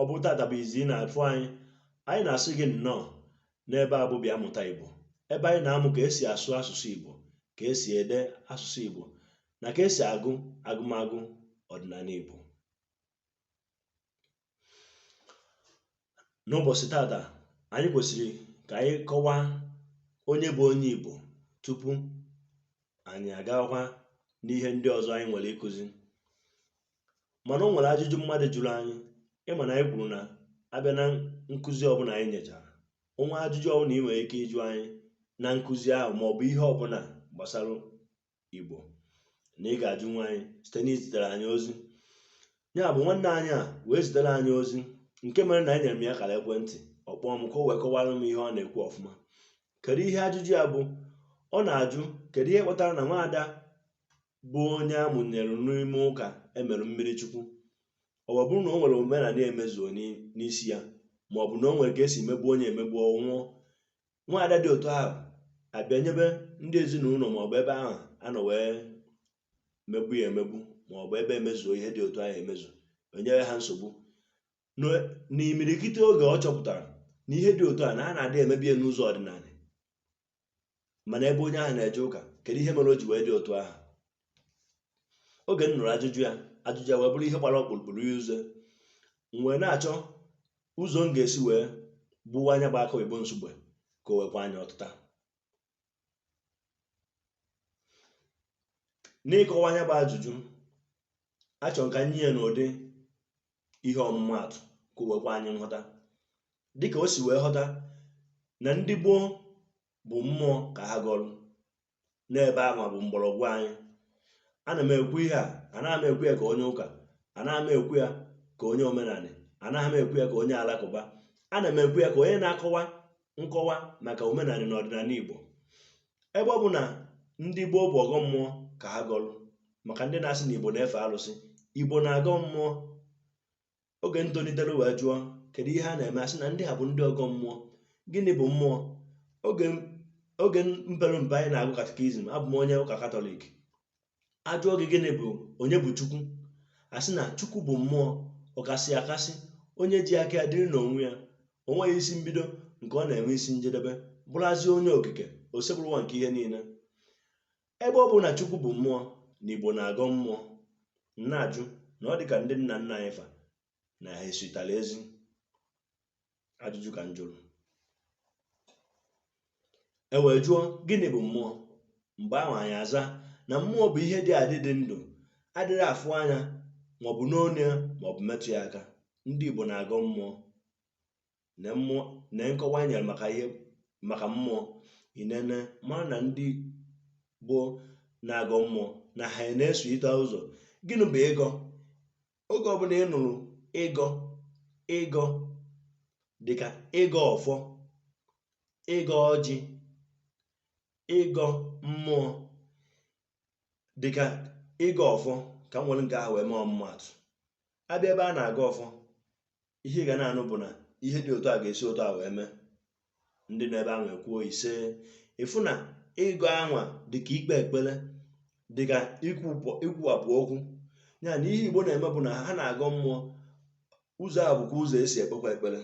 ọ bụrụ tata bụ izi ị na-afụ anyị anyị na-asị gị nnọọ n'ebe a bụ bịa mụta Igbo ebe anyị na-amụ ka esi asụ asụsụ Igbo ka esi ede asụsụ Igbo na ka esi agụ agụmagụ ọdịnanị Igbo n'ụbọsị tata anyị kwesịrị ka anyị kọwaa onye bụ onye Igbo tupu anyị agakwa n'ihe ndị ọzọ anyị nwere ịkụzi mana o nwere ajụjụ mmadụ jụrụ anyị ịma na anyị kwuru na abịa na nkụzi ọbụla anyị nyechara ohere ajụjụ ọbụla ị nwere ike ịjụ anyị na nkụzi ahụ ma ọ bụ ihe ọbụla gbasara igbo na ị ga-ajụnwu anyị site na izitere anyị ozi ya bụ nwanne anyị a wee zitere anyị ozi nke mere na enyere m ya akara ekwentị ọ kpọọ m ka o wee kọwara m ihe ọ na-ekwu ọfụma kedu ihe ajụjụ ya bụ ọ na-ajụ kedu ihe kpatara na nwaada bụ onye a mụnyere n'ime ụka emere mmiri chukwu ọ bụrụ na o nwere omenala emezuo n'isi ya ma ọ bụ na o nwere ka esi emegbu onye emegbu ọ nwụọ nwaada dị otu ahụ abịa nyebe ndị ezinụlọ ma ọ bụ ebe ahụ a nọ wee megbu ya emegbu ma ọ bụ ebe emezuo ihe dị otu ahụ emezu enyere ha nsogbu n'imirikite oge ọ chọpụtara na ihe dị otu a na a na-adị emezi ya n'ụzọ ọdịnala mana ebe onye ahụ na-eje ụka kedu ihe mere o ji wee dị otu ahụ oge m nụrụ ajụjụ ya ajụjụ ya wee bụrụ ihe gbara ọkpụrụkpụrụ ya ụzọ m wee na-achọ ụzọ m ga-esi wee gbuwaa nya bụ akụ oyibo Nsugbe ka o wee kwe anyị ọtịta n'ịkọwa nya bụ ajụjụ achọrọ m ka m nye ya n'ụdị ihe ọmụma atụ ka o wee kwe anyị nghọta dịka o si wee ghọta na ndị gboo bụ mmụọ ka ha gọlụ n'ebe ahụ bụ mgbọrọgwụ anyị ana m ekwu ihe a anaghị m ekwu ya ka onye ụka anaghị m ekwu ya ka onye omenanị anaghị m ekwu ya ka onye alakụba ana m ekwu ya ka onye na-akọwa nkọwa maka omenanị na ọdịnanị Igbo ebe ọ bụ na ndị gboo bụ ọgọ mmụọ ka ha gọlụ maka ndị na-asị na Igbo na-efe alụsị Igbo na-agọ mmụọ oge m tolitere wee jụọ kedu ihe na-eme asị na ndị a bụ ndị ọgọ mmụọ gịnị bụ mmụọ oge m- oge m pere mpe anyị na-agụ katikizim abụ m onye ụka katọlik ajụọ gị gịnị bụ onye bụ chukwu asị na chukwu bụ mmụọ ọkasị akasị onye ji aka ya dịrị n'onwe ya o nweghị isi mbido nke ọ na-enwe isi njedebe bụrụzie onye okike Osebụrụwa nke ihe niile ebe ọ bụ na chukwu bụ mmụọ na igbo na-agọ mmụọ m na-ajụ na ọ dị ka ndị nna nna anyị fa na ha esitara ezi ajụjụ ka m jụrụ e wee jụọ gịnị bụ mmụọ mgbe ahụ anyị aza na mmụọ bụ ihe dị adị dị ndụ adịrọ afụ anya maọbụ nụ onu ya maọbụ metụ ya aka ndị Igbo na-agọ mmụọ na mmụọ na nkọwa nyere maka ihe maka mmụọ i nenee mara na ndị Igbo na-agọ mmụọ na ha na-esote ụzọ gịnị bụ ịgọ oge ọbụla ị nụrụ ịgọ ịgọ dịka ịgọ ọfọ ịgọ ọjị ịgọ mmụọ dịka ịgọ ọfọ ka m were nke ahụ wee mee ọmụmatụ a bịa ebe a na-agọ ọfọ ihe ị ga na-anụ bụ na ihe dị otu a ga-esi otu a wee mee ndị nọ ebe ahụ ekwuo ise ị fụ na ịgọ anwa dịka ikpe ekpere dịka ikwuwapụ okwu ya na ihe igbo na-eme bụ na ha na-agọ mmụọ ụzọ a bụkwa ụzọ e si ekpekwa ekpere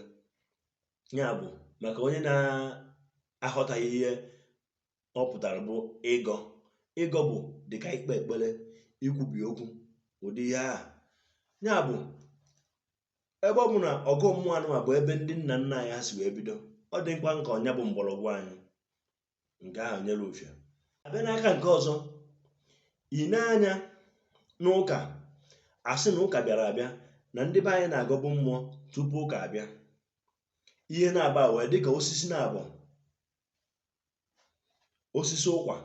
ya bụ maka onye na-aghọtaghị ihe ọ pụtara bụ ịgọ ịgọ bụ dịka ikpe ekpere ikwubi okwu ụdị ihe ahụ ya bụ ebe ọ bụ na ọgọ mmụọ anụnwa bụ ebe ndị nna nna anyị ha si wee bido ọ dị mkpa maka ọ nya bụ mgbọrọgwụ anyị nke ahụ nyere ofia a bịa n'aka nke ọzọ i nee anya n'ụka a sị na ụka bịara abịa na ndị be anyị na-agọbu mmụọ tupu ụka abịa ihe naabọ a wee dịka osisi naabọ osisi ụkwa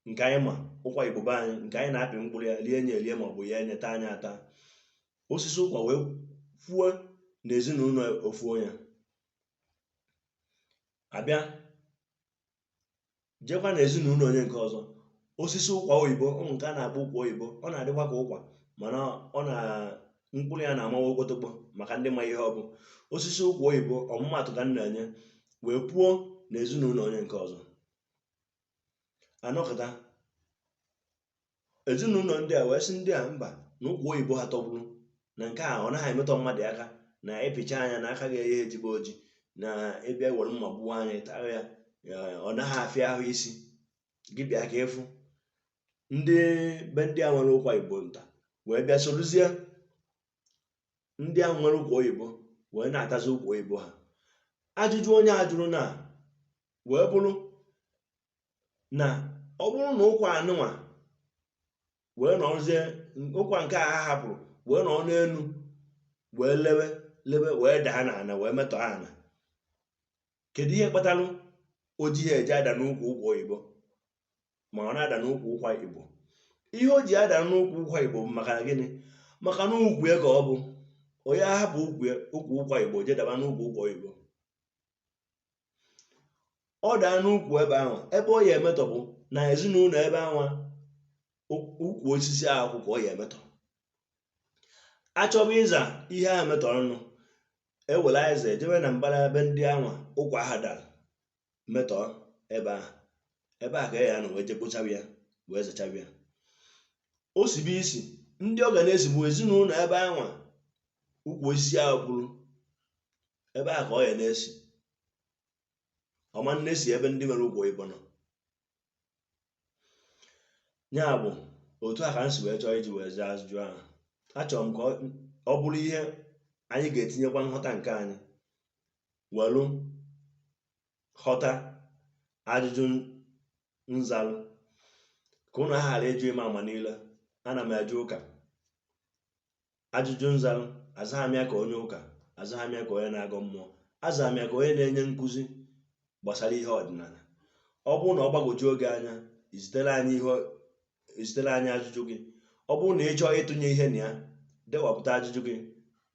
nke anyị ma ụkwa igbo be anyị nke anyị na-apị mkpụrụ ya lie nya elie maọbụ ghee nya taa nya ata osisi ụkwa wee puo na ezinụlọ ofu onye a bịa jekwa na ezinụlọ onye nke ọzọ osisi ụkwa oyibo ọ bụ nke a na-akpọ ụkwa oyibo ọ na-adịkwa ka ụkwa mana ọ na mkpụrụ ya na-amawa okpotokpo maka ndị ma ihe ọ bụ osisi ụkwa oyibo ọmụmatụ ka m na-enye wee puo na ezinụlọ onye nke ọzọ a nọkata ezinụlọ ndị a wee sị ndị a mba na ụkwa oyibo ha tọgburu na nke a ọ naghị emetọ mmadụ aka na ị pịchaa nya na aka agaghị ejigbu oji na ị bịa were mma gbuwaa nya ị taa ya ọ naghị afịa ahụ isi gị bịa ka ị fụ ndị be ndị a nwere ụkwa igbo nta wee bịa sorozie ndị ahụ nwere ụkwa oyibo wee na-atazi ụkwa oyibo ha ajụjụ onye a jụrụ na wee bụrụ na ọ bụrụ na ụkwa anụnwa wee nọrọzie ụkwa nke a ha hapụrụ wee nọrọ n'elu wee lewe lewe wee daa n'ala wee metọọ ala kedu ihe kpatalụ o jighị eje ada n'ukwu ụkwa oyibo ma ọ na-ada n'ukwu ụkwa igbo ihe o ji ada n'ukwu ụkwa igbo bụ maka gịnị maka na ukwu ya ka ọ bụ onye ahapụ ukwu ya ukwu ụkwa igbo je daba n'ukwu ụkwa oyibo ọ daa n'ukwu ebe ahụ ebe ọ ya emetọ bụ na ezinụlọ ebe ahụ ukwu osisi ahụ ka ọ ya emetọ achọba ịza ihe a metọrọ nụ e were azịza ejebe na mbara ebe ndị anwa ụkwa aha dara metọọ ebe ahụ ebe ahụ ka a ya-anọ wee je kpochaba ya wee zachaba ya o sibe isi ndị ọ ga na-esi bụ ezinụlọ ebe anwa ukwu osisi ahụ kwụrụ ebe ahụ ka ọ ya na-esi ọ ma na-esi ebe ndị nwere ụkwa igbo nọ ya bụ otu a ka m si wee chọọ iji wee zaa ajụjụ ahụ achọrọ m ka ọ bụrụ ihe anyị ga-etinyekwa nghọta nke anyị welu ghọta ajụjụ m zalụ ka ụnụ ghara ịjụ ịma ama niile ana m eje ụka ajụjụ m zarụ azaghị m ya ka onye ụka azaghị m ya ka onye na-agọ mmụọ azaghị m ya ka onye na-enye nkụzi gbasara ihe ọdịnala ọ bụrụ na ọ gbagwojuo gị anya i zitere anyị ihe i zitere anyị ajụjụ gị ọ bụrụ na ị chọọ ịtụnye ihe na ya dewapụta ajụjụ gị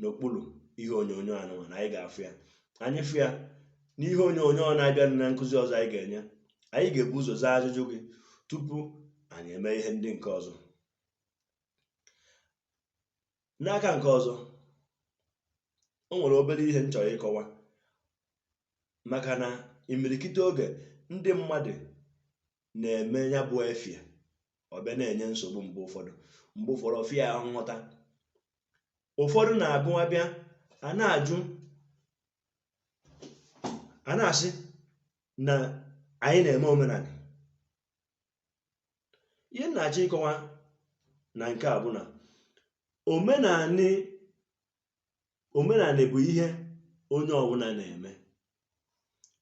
n'okpuru ihe onyonyo anụnwa na anyị ga-afụ ya anyị fụ ya n'ihe onyonyo ọ na-abịa na nkụzi ọzọ anyị ga-enye anyị ga-ebu ụzọ zaa ajụjụ gị tupu anyị eme ihe ndị nke ọzọ n'aka nke ọzọ o nwere obere ihe m chọrọ ịkọwa maka na imirikite oge ndị mmadụ na-eme ya bụ ife ọ bịa na-enye nsogbu mgbe ụfọdụ mgbe ụfọdụ ọ fịa ahụ nghọta ụfọdụ na-abụ a bịa a na-ajụ a na-asị na anyị na-eme omenanị ihe m na-achọ ịkọwa na nke a bụ na omenanị omenanị bụ ihe onye ọbụla na-eme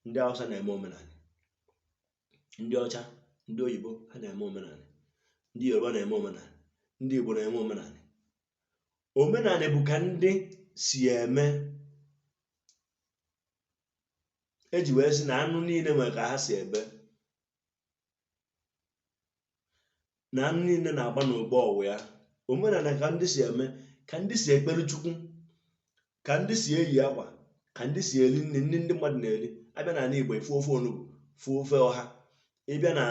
ndị Awụsa na-eme omenanị ndị ọcha ndị oyibo ha na-eme omenanị ndị Yoruba na-eme omenanị ndị Igbo na-eme omenanị omenanị bụ ka ndị si eme e ji wee sị na anụ niile nwere ka ha si ebe na nri niile na-aba n'ogbe ọ wụ ya omenala ka ndị si eme ka ndị si ekpere chukwu ka ndị si eyi akwa ka ndị si eri nri nri ndị mmadụ na-eri ị bịa n'ala igbo ị fụ ofe onugbu fụ ofe ọha ị bịa na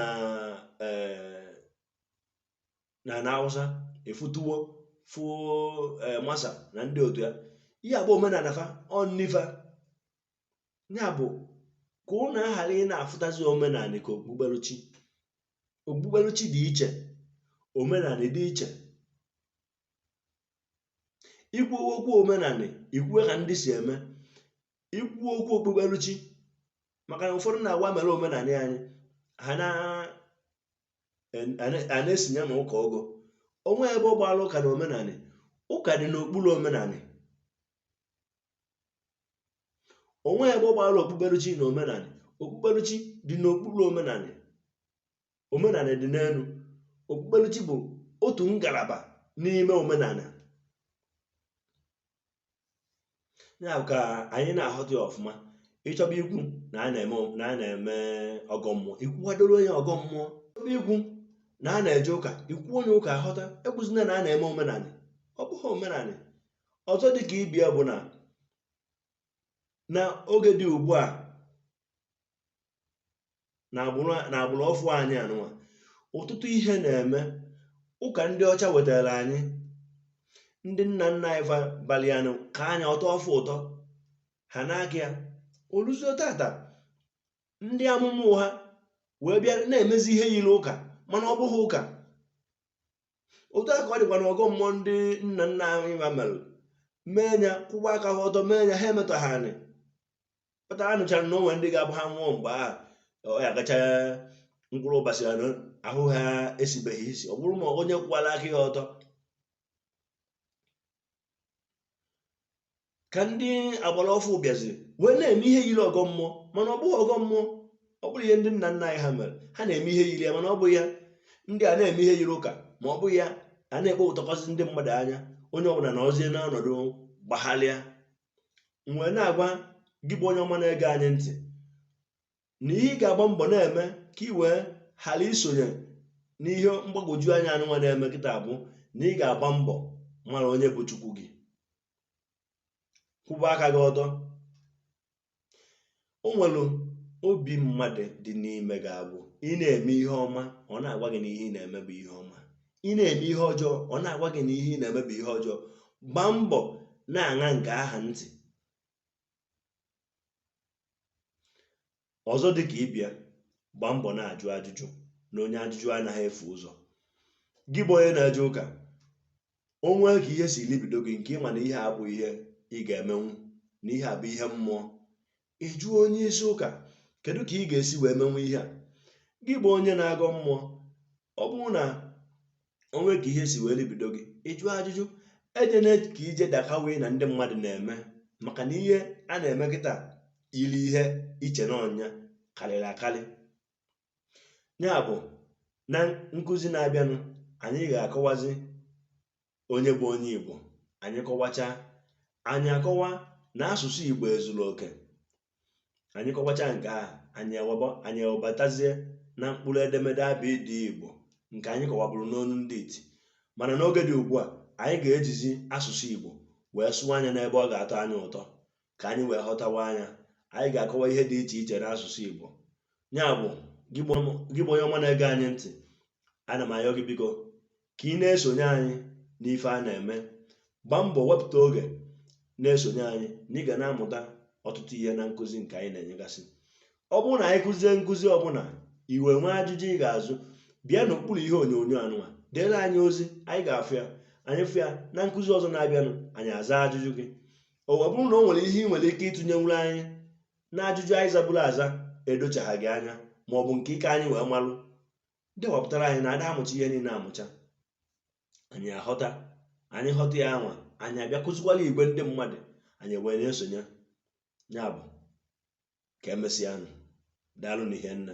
eh, na na awụsa ị fụ tuwo ị fụ eh, masa na ndị otu ya ihe a bụ omenala fa ọ nni fa ya bụ ka ụnụ ghara ị na-afụtazi omenala ka okpukperechi okpukperechi dị iche omenala dị iche ikwu okwu omenala i kwue ka ndị si eme ikwu okwu okpukperechi maka na ụfọdụ na-agwa mere omenala anyị ha na a na-esinye ma ụka ọgọ o nwe ebe ọ gbara ụka na omenala ụka dị n'okpuru omenala o nwe ebe ọ gbara okpukperechi na omenala okpukperechi dị n'okpuru omenala omenala dị n'elu okpukperechi bụ otu ngalaba n'ime omenala ya ka anyị na-aghọta ya ọfụma ị chọba ikwu na a na-eme ọgọ mmụọ ikwuwadoro onye ọgọ mmụọ chọba ikwu na a na-eje ụka i kwuo onye ụka a ghọta ekwuzina na a na-eme omenala ọ bụghị omenala ọzọ dị ka ibe ya bụ na na oge dị ugbu a na agbụrụ na agbụrụ ọfụ anyị anụwa ọtụtụ ihe na-eme ụka ndị ọcha wetara anyị ndị nna nna anyị fa balịa n'ụka ya atọọ fa ụtọ ha na-aga ya o luzie tata ndị amụma ụgha wee bịa na-emezi ihe yiri ụka mana ọ bụghị ụka otu a ka ọ dịkwa na ọgọ mmụọ ndị nna nna anyị fa mere mee ya kwụwa aka ha ọtọ mee ya ha emetọghị anị kpata a nụchara na o nwe ndị ga-abụ ha nwụọ mgbe ahụ ọ ya gacha mkpụrụ ụbọchị anọ ahụ ha esibeghị isi ọ bụrụ ma onye kwụwara aka ya ọtọ ka ndị agbara ọfụ bịaziri wee na-eme ihe yiri ọgọ mmụọ mana ọ bụghị ọgọ mmụọ ọ bụrụ ihe ndị nna nna anyị ha mere ha na-eme ihe yiri ya mana ọ bụghị ya ndị a na-eme ihe yiri ụka ma ọ bụghị ya a na-ekpe ụtọkọsị ndị mmadụ anya onye ọbụla nọzie n'ọnọdụ gbagharịa m wee na-agwa gị bụ onye ọma na-ege anyị ntị na ihe ị ga-agba mbọ na-eme ka ị wee ghara isonye n'ihe mgbagwoju anya anụnwa na-eme kịta bụ na ị ga-agba mbọ mara onye bụ chukwu gị kwụba aka gị ọtọ o nwere obi mmadụ dị n'ime gị ga-abụ ị na-eme ihe ọma ọ na-agwa gị na ihe ị na-eme bụ ihe ọma ị na-eme ihe ọjọọ ọ na-agwa gị na ihe ị na-eme bụ ihe ọjọọ gbaa mbọ na-aṅa nke ahụ ntị ọzọ dị ka ibe ya gbaa mbọ na-ajụ ajụjụ na onye ajụjụ anaghị efu ụzọ gị bụ onye na-eje ụka o nwee ka ihe si libido gị nke ị ma na ihe a bụ ihe ị ga-emenwu na ihe a bụ ihe mmụọ ị jụọ onye isi ụka kedu ka ị ga-esi wee menwu ihe a gị bụ onye na-agọ mmụọ ọ bụrụ na o nwee ka ihe si wee libido gị ị jụọ ajụjụ ejena ka ije daka wee na ndị mmadụ na-eme maka na ihe a na-eme kịta iri ihe iche n'ọnya karịrị akarị ya bụ na nkụzi na-abịanụ anyị ga-akọwazi onye bụ onye Igbo anyị kọwacha anyị akọwa na asụsụ Igbo ezuru oke anyị kọwacha nke a anyị ewaba anyị ewebatazie na mkpụrụ edemede abịdịị igbo nke anyị kọwaburu n'onu ndị iti mana n'oge dị ugbu a anyị ga-ejizi asụsụ igbo wee sụọ nya n'ebe ọ ga-atọ anyị ụtọ ka anyị wee ghọtawa nya anyị ga-akọwa ihe dị iche iche n'asụsụ igbo ya bụ gị bụ onye ọma na-ege anyị ntị ana m ayọ gị biko ka ị na-esonye anyị n'ife a na-eme gbaa mbọ wepụta oge na-esonye anyị na ị ga na-amụta ọtụtụ ihe na nkụzi nke anyị na-enyegasị ọ bụrụ na anyị kụzie nkụzi ọbụla i wee nwee ajụjụ ị ga-ajụ bịa n'okpuru ihe onyonyo anụwa dere anyị ozi anyị ga-afụ ya anyị fụ ya na nkụzi ọzọ na-abịanụ anyị aza ajụjụ gị ọ bụrụ na o nwere ihe ị nwere ike ịtụnyenwuru anyị na ajụjụ anyị zaburu aza edochaghị gị anya ma ọ bụ nke ị ka anyị wee malụ dee wepụtara anyị na a da amụcha ihe niile amụcha anyị ahọta anyị họta ya nwa anyị abịa kụzikwalụ igwe ndị mmadụ anyị wee na-esonye ya bụ ka emesịanụ daalụ na ihe nna